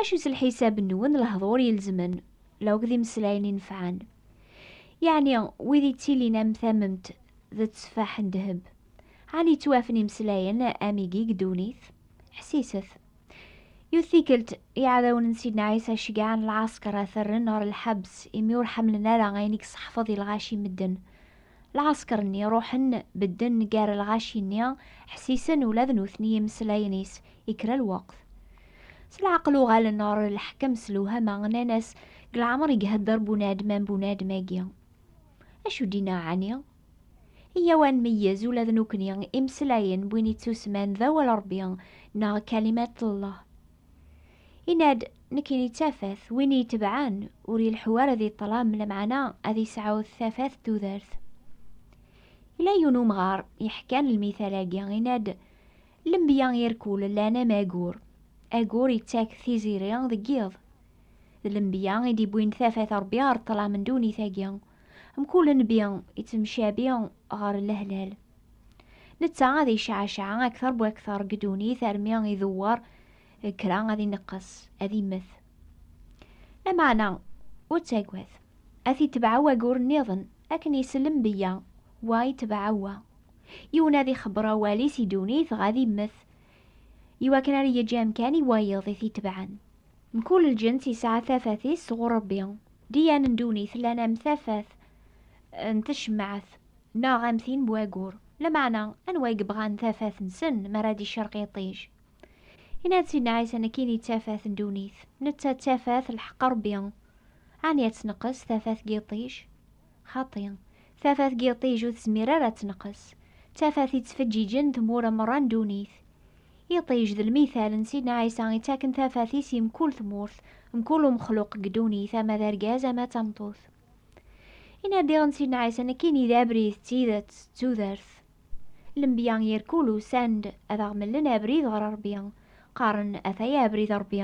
Acu s lḥisab-nwen lehdur ilezmen, la akked imeslayen inefɛen? Yeɛni wid yettilin am tamemt d tteffaḥ n ddheb, ɛni yettwafen imeslayen am igi deg ddunit? Ḥsiset! Yiwet tikkelt, iɛdawen n Sidna Ɛisa ceggɛen lɛasker ad t-rren ɣer lḥebs imi ur ḥemmlen ara ayen i yesseḥfeḍ i lɣaci n medden. Lɛesker-nni ruḥen, bedden gar lɣaci-nni, ḥessisen ula d nutni imeslayen is i kra lweqt. S leɛqel uɣalen ɣer leḥkem s lewhama, nnan-as, Deg leɛmer i ihedder bunadem am bunadem-agi. Acu d-inna ɛni? Iyyaw ad nmeyyez ula d nukni imeslayen n win ittusman d awal Rebbi neɣ Kalimat Llah. Inna-d, nekkini d tafat, win iyi-tebɛen ur yelḥu ara di ṭṭlam, lameɛna ad yesɛu tafat d tudert. Yella yiwen umɣar yeḥkan lmital-agi, inna-d, Lenbiya irkul llan am agur. Agur yettak tiziri deg yiḍ. D lenbiya i d-iwwin tafat n Rebbi ɣer ṭṭlam n ddunit-agi. Mkul nnbi ittemcabi ɣer lehlal. Netta ad yecɛaceɛ aktar bu aktar deg ddunit armi idewwer kra ad ineqqes, ad immet. Lameɛna, ur ttagad, ad t-itbeɛ wagur nniḍen akken isellem beyya, wa itbeɛ wa. Yiwen ad ixebber awal-is i ddunit dɣa ad immet, iwakken ara yeǧǧ amkan i wayeḍ i t-itebɛen. Mkul lǧens yesɛa tafat-is sɣur Ṛebbi. Diyan n ddunit llan am tafat n tcemmaɛt neɣ am tin n wayyur. Lameɛna, anwa i yebɣan tafat-nsen mi ara d-icerq yiṭij? Yenna-d Sidna Ɛisa nekkini d tafat n ddunit. Netta d tafat n lḥeqq n Ṛebbi. Ɛni ad tneqqes tafat n yiṭij? Xaṭi, tafat n yiṭij ur tezmir ara ad tenqes, d tafat yettfeǧǧiǧen tmura merra n ddunit. Iṭij d lmithal n Sidna Ɛisa ittaken tafat-is i mkul tmurt, mkul umexluq deg ddunit, ama d argaz ama d tameṭṭut. Inadiɣ n Sidna Ɛisa nekkini d abrid, d tidet, d tudert. Lembya irkul usan-d ad aɣ-mlen abrid ɣer Ṛebbi, qqaren, Ataya abrid n Ṛebbi,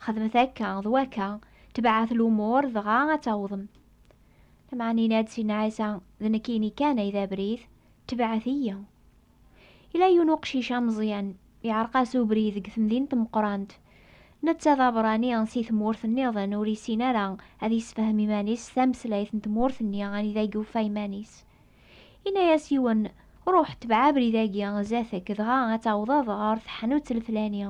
xedmet akka d wakka, tebɛet lumuṛ dɣa ad tawḍem. Lameɛna yenna-d Sidna Ɛisa, d nekkini kan ay d abrid, tebɛet-iyi. Yella yiwen uqcic ameẓyan, yeɛreq-as ubrid deg temdint meqqrant. Netta d abeṛṛani si tmurt nniḍen, ur yessin ara ad yessefhem iman-is s tameslayt n tmurt-nni anida i yuffa iman-is. Yenna-as yiwen, Ruḥ, tebɛ abrid-agi zdat-k, dɣa ad tawḍeḍ ɣer teḥnut lflani.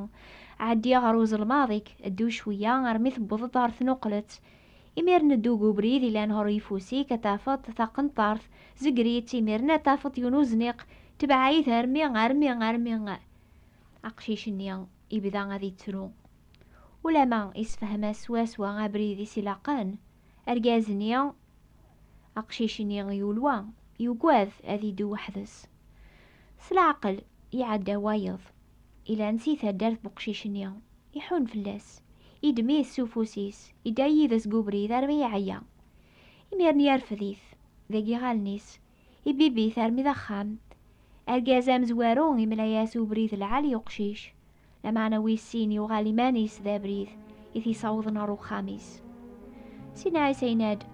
Ɛeddi ɣer uzelmaḍ-ik, ddu cweyya armi tewweḍ-d ɣer tnuqlet, Imiren ddu deg ubrid ilan ɣer uyeffus-ik ad tafeḍ taqenṭart, zegger-itt, imiren ad tafeḍ yiwen uzniq, tebɛa-it armi, armi, armi aqcic-nni yebda ad yettru. Ulama yessefhem-as swaswa abrid i s-ilaqen, argaz-nni, aqcic-nni yulwa, yugad ad yeddu weḥd-s. S leɛqel, iɛedda wayeḍ. Ilan si taddart n uqcic-nni, iḥun fell-as, yeddem-it s ufus-is, yedda yid-s deg ubrid armi yeɛya. Imiren yerfed-it deg yiɣallen-is, ibibb-it armi d axxam. Argaz amezwaru imla-as ubrid lɛali i uqcic, lameɛna wis sin yuɣal iman-is d abrid i t-yessawḍen ɣer uxxam-is. Sidna Ɛisa yenna-d,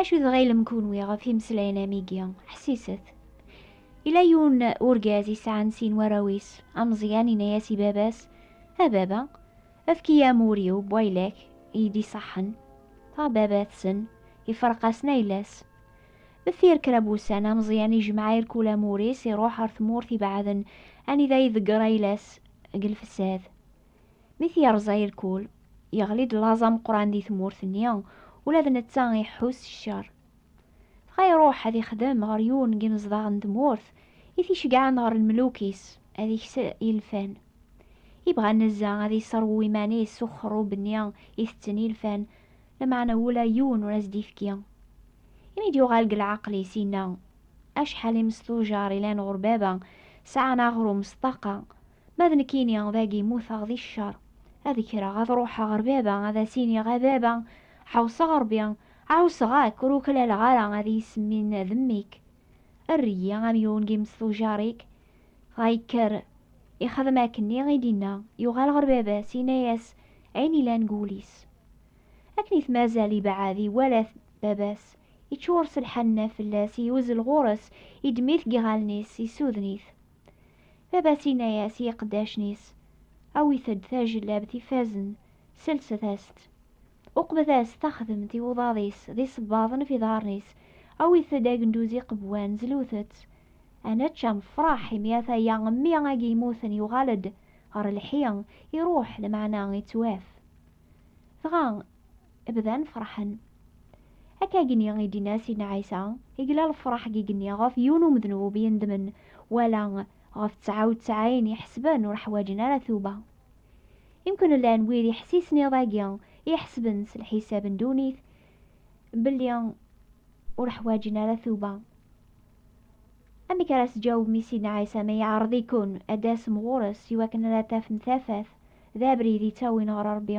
Acu tɣilem kunwi ɣef imeslayen am igi? Ḥsiset. Ila yun urgaz isɛan sin warraw-is, ameẓyan ina-yas i baba-s, A baba, efk-iyi amur-iw, bwaylek, i d-iṣaḥen. A baba-tsen, ifreq-asen ayla-s. Deffir kra n wussan, ameẓyan ijmeɛ irkul amur-is, iruḥ ɣer tmurt ibeɛden anida iḍegger ayla-s deg lfesad. Mi t-yerẓa irkul, yeɣli-d laẓ ameqqran di tmurt-nni, ula d netta iḥḥu s ccer. Dɣa iruḥ ad ixdem ɣer yiwen n yinezdaɣ n tmurt i t-iceggɛen ɣer lmeluk-is, ad ikes ilfan. Ibɣa nezzeh ad iṣerwu iman-is s uxerrub-nni itetten ilfan, lameɛna ula yiwen ur as-d-ifki. Imi d-yuɣal deg leɛqel-is, yenna, Acḥal imesḍujer i lan ɣur baba, sɛan aɣrum s ṭṭaqa, Ma d nekkini, dagi mmuteɣ di ccer. Ad kkreɣ, ad ruḥeɣ ɣer baba, ad as-iniɣ, A baba, ḥewṣeɣ Ṛebbi, ɛusseɣ-ak, ur uklaleɣ ara ad iyi-semmin d mmi-k. Err-iyi am yiwen n yimes tujaṛ-ik. Dɣa yekker, ixdem akkenni i d-inna, yuɣal ɣer baba-s, inna-yas ayen yellan deg wul-is. Akken i t-mazal ibeɛɛed, iwala-t baba-s, iččur s lḥenna fell-as, yuzzel ɣur-s, yeddem-it deg yiɣallen-is, yessuden-it. Baba-s inna-yas i iqeddacen-is, Awit-d tajellabt ifazen, selset-as-tt. Uqbet-as taxdemt i uḍad-is d isebbaḍen f iḍarren-is, awit-d agenduz iqewwan, zlut-tt. A nečč, a nefraḥ, imi ataya mmi agi yemmuten yuɣal-d ɣer lḥi, iruḥ, lmeɛna ittwaf. Dɣa bdan ferḥen. Akka gni i d-inna Sidna Ɛisa, igla lefraḥ gi gni ɣef yiwen umednub yendmen, wala ɣef tesɛa u tesɛin iḥesben ur ḥwaǧen ara tuba. Imken llan wid iḥessisen iḍ-agi, iḥesben s lḥisab n ddunit belli ur ḥwaǧen ara tuba. Amek ara s-ǧawbem i Sidna Ɛisa ma iɛreḍ-iken ad d-tasem ɣur-s iwakken ara tafem tafat d abrid ittawin ɣer Ṛebbi?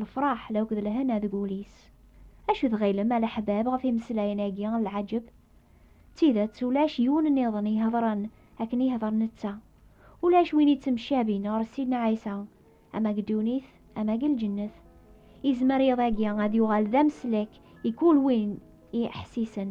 Lefraḥ d akked lehna deg wul-is. Acu tɣilem a leḥbab ɣef imeslayen-agi n lɛaǧeb? D tidet ulac yiwen nniḍen iheḍren akken yehḍer netta. Ulac win yettemcabin ɣer Sidna Ɛisa, ama deg ddunit ama deg lǧennet. Yezmer yiḍ-agi ad yuɣal d ameslek i kul win i iḥessisen.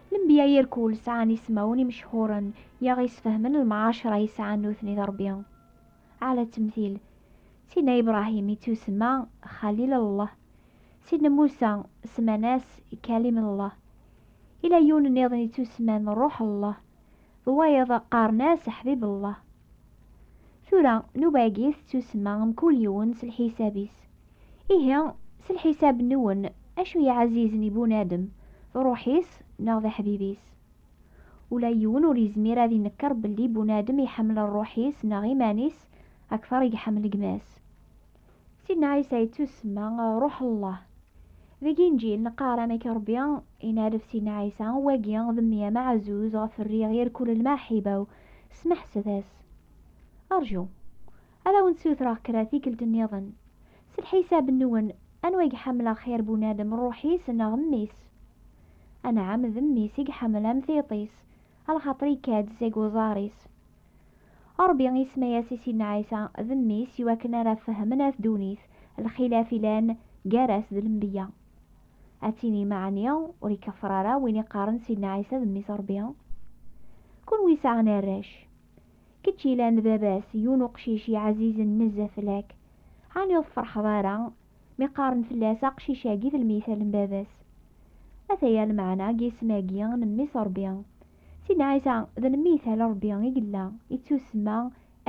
Lenbiya irkul sɛan ismawen imechhuren i aɣ-yesfehmen lmɛacra i sɛan nutni d Ṛebbi. Ɛla temtil, Sidna Ibrahim ittusemma Xalil Allah. Sidna Musa semman-as Kalim Allah. Ila yiwen nniḍen ittusemman Ruḥ Allah, d wayeḍ qqaren-as Ḥbib Allah. Tura, nnuba-agi tettusemma mkul yiwen s lḥisab-is. Ihi, s lḥisab nwen, acu yeɛzizen i bunadem, d ṛuḥ-is neɣ d aḥbib-is? Ula yiwen ur yezmir ad inekkeṛ belli bunadem iḥemmel ṛṛuḥ-is neɣ iman-is akteṛ i iḥemmel gma-s. Sidna Ɛisa yettusemma Ṛuḥ Llah. Deg Inǧil, neqqar amek Ṛebbi inalef Sidna Ɛisa, Wagi d mmi ameɛzuz ɣef rriɣ irkul lmaḥiba-w, smeḥset-as. Ṛju. ad awen-ssutreɣ kra tikkelt nniḍen. S lḥisab-nwen, anwa i iḥemmel axir bunadem, ṛṛuḥ-is neɣ mmi-s? Anɛam, d mmi-s i iḥemmel am tiṭ-is, a lxaṭer ikka-d seg uẓar-is. Ṛebbi isemma-yas i Sidna Ɛisa d mmi-s i wakken ara fehmen at ddunit lxilaf ilan gar-as d lenbeyya. Ad tinim ɛni ur ikeffer ara win iqqaren Sidna Ɛisa d mmi-s Ṛebbi? Kunwi sɛan arrac. Kečč ilan d baba-s, yiwen uqcic iɛzizen nezzeh fell-ak. Ɛni ur tferḥeḍ ara mi qqaren fell-as aqcic-agi d lmithal n baba-s? Ataya lmeɛna n yisem-agi n Mmi-s Rebbi. Sidna Ɛisa d lmithal n Rebbi i yella, yettusemma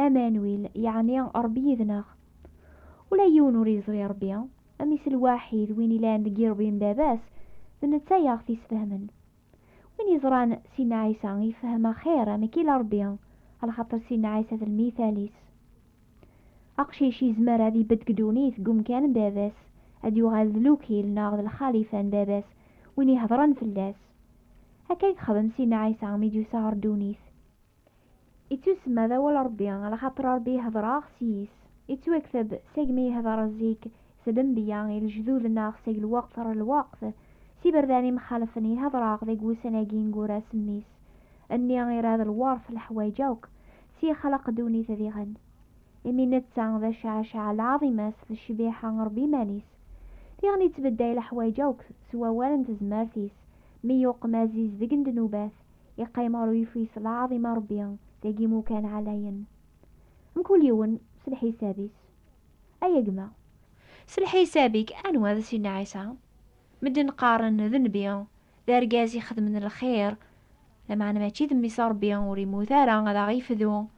Amanuil, yeɛni Rebbi yid-neɣ. Ula yiwen ur yeẓri Rebbi, Mmi-s lwaḥid, win ilan deg yirebbi n baba-s, d netta i aɣ-t-isfehmen. Win yeẓran Sidna Ɛisa yefhem axir amek ila Rebbi, alxaṭer Sidna Ɛisa d lmithal-is. Aqcic yezmer ad ibedd deg ddunit deg umkan n baba-s, ad yuɣal d lukil neɣ d lxalifa n baba-s, win iheḍren fell-as. Akka i yexdem Sidna Ɛisa mi d-yusa ɣer ddunit. Ittusemma d awal Ṛebbi, laxaṭer Ṛebbi ihdeṛ-aɣ s yis. Ittwakteb segmi ihdeṛ zik s lenbiya i lejdud neɣ seg lweqt ɣer lweqt s iberdan imxalefen. Ihdeṛ-aɣ deg wussan-agi ineggura s Mmi-s, nni, irad, lweṛt, leḥwayeǧ akk, s yexleq ddunit diɣen. Imi netta d Acaɛcaɛ, lɛaḍima-s d ccbiḥa n Ṛebbi iman-is. Diɣen ittbedday leḥwayeǧ akk s wawal n tezmert-is, mi yuqem azizdeg n ddnubat, iqqim ɣer uyeffis lɛaḍim a Rebbi dagi imukan ɛlayen mkul yiwen s lḥisab-is ay a gma. S lḥisab-ik anwa d Sidna Ɛisa? Medden qqaren d nnbi, d argaz ixedmen lxir, lameɛna mačči d mmi-s a Rebbi ur yemmut ara ad aɣ-yefdu.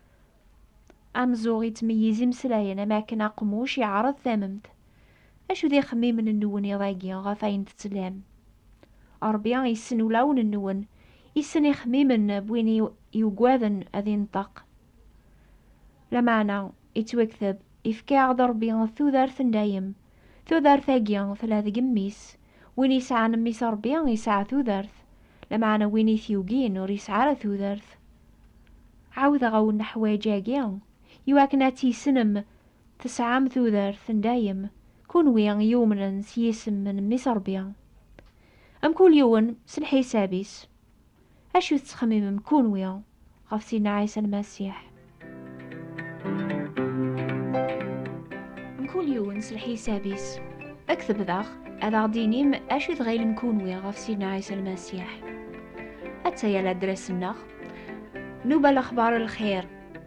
Amzuɣ yettmeyyiz imeslayen am akken aqmuc iɛreḍ tamemt. Acu d ixemmimen-nwen iḍ-agi ɣef ayen tettlam? Rebbi yessen ulawen-nwen, yessen ixemmimen n win yuggaden ad inṭeq. Lameɛna, yettwakteb, yefka-aɣ-d Rebbi tudert n dayem. Tudert-agi tella deg mmi-s, win yesɛan mmi-s a Ṛebbi yesɛa tudert, lameɛna win i t-yugin ur yesɛi ara tudert. Ɛawdeɣ-awen leḥwayeǧ-agi i wakken ad tt-yessnem, tesɛam tudert n dayem, kunwi i yumnen s yisem n mmi-s Ṛebbi. Mkul yiwen s lḥisab-is. Acu tettxemimem kunwi ɣef Sidna Ɛisa Lmasiḥ? Mkul yiwen s lḥisab-is. Ad k-tebdaɣ, ad aɣ-d-tinim acu i tɣilem kunwi ɣef Sidna Ɛisa Lmasiḥ. Atta-ya ladras-nneɣ, Nuba Lexbar n Lxir.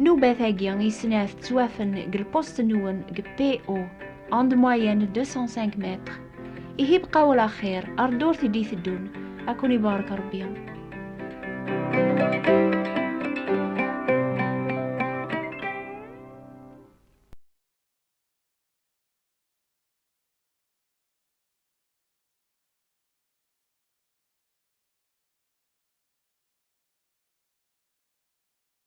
Nnubat-agi i snat ttwafen deg lpust-nwen deg PO en de moyenne 205 mètres. Ihi bqa wala xir, ar ddurt i d-iteddun, ad ken-ibarek Rebbi.